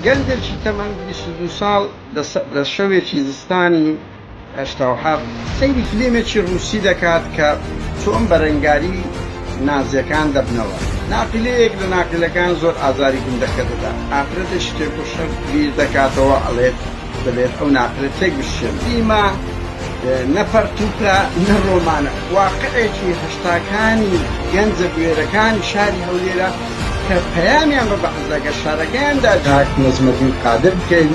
گەنجێکی تەمەن 22 ساڵ لە شەوێکی زستانی هەشتاوحەفت سەیری فلێمێکی ڕووسی دەکات کە چۆن بەرەنگاری نازیەکان دەبنەوە ناقلەیەک لە ناقلەکان زۆر ئازاری گوندەکە دەدا ئافرەتێکی تێکۆشەر بیر دەکاتەوە ئەڵێت دەبێت ئەو ناقلە تێک بشکێن دیما نە پەرتوکە نە ڕۆمانە واقعێکی هەشتاکانی گەنجە بوێرەکانی شاری هەولێرە کە پەیامیان بە بەعسدا گەر شارەکەیان دا کاک نەجمەدین قادر بکەین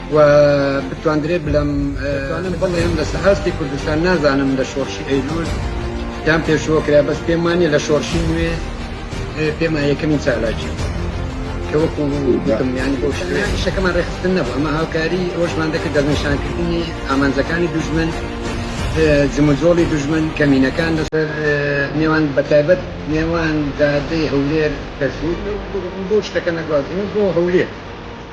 و بتواندرێ بلەم دەتوانم بڵێم لەسە هەستی کوردستان نازانم لە شۆڕشی ئەیلول یان پێشوە کرا بەس پێم وانە لە شۆڕشی نوێ پێما یەکەمی چالاکی کە وەکو گوتم یانی بۆ شەکەمان ڕێخستن نەبوو ئەمە هاوکاری ئەوشمان دەکرد دەستنیشانکردنی ئامانجەکانی دوژمن جموجۆڵی دوژمن کەمینەکان لەسەر نێوان بەتایبەت نێوان دادەی هەولێر دەسوود بۆ شتەکە نەگوازن بۆ هەولێر